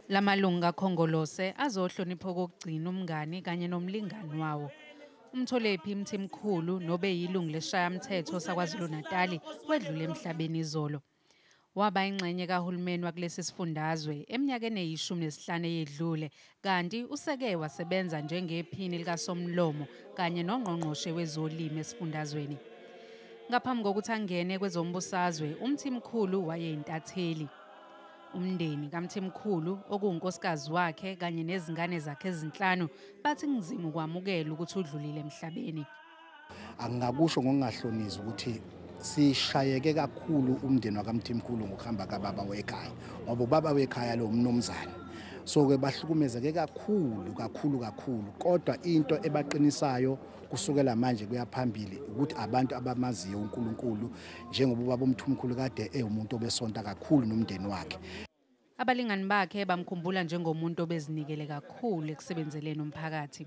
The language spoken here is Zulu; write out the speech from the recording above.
La malungu kaKhongolose azohlonipha okokugcina umngani kanye nomlingani wawo. UMtholephi Mthimkhulu nobe yilungu leshayamthetho saKwaZulu-Natali wedlule emhlabeni izolo. Waba ingxenye kahulumeni wakulesi sifundazwe eminyakeni eyishumi nesihlanu eyedlule kanti useke wasebenza njengephini likasomlomo kanye nongqongqoshe wezolimi esifundazweni. Ngaphambi kokuthi angene kwezombusazwe, uMthimkhulu wayeyintatheli. Umndeni kaMthimkhulu okuwunkosikazi wakhe kanye nezingane zakhe ezinhlanu bathi kunzima ukwamukela ukuthi udlulile emhlabeni. Angingakusho ngokungahlonisi ukuthi sishayeke kakhulu umndeni wakamthimkhulu ngokuhamba kababa wekhaya ngoba ubaba wekhaya lo mnumzane so ke bahlukumezeke kakhulu kakhulu kakhulu kodwa into ebaqinisayo kusukela manje kuyaphambili ukuthi abantu abamaziyo uNkulunkulu njengoba ubaba umthumkhulu kade ewumuntu obesonta kakhulu nomndeni wakhe abalingani bakhe bamkhumbula njengomuntu obezinikele kakhulu ekusebenzeleni umphakathi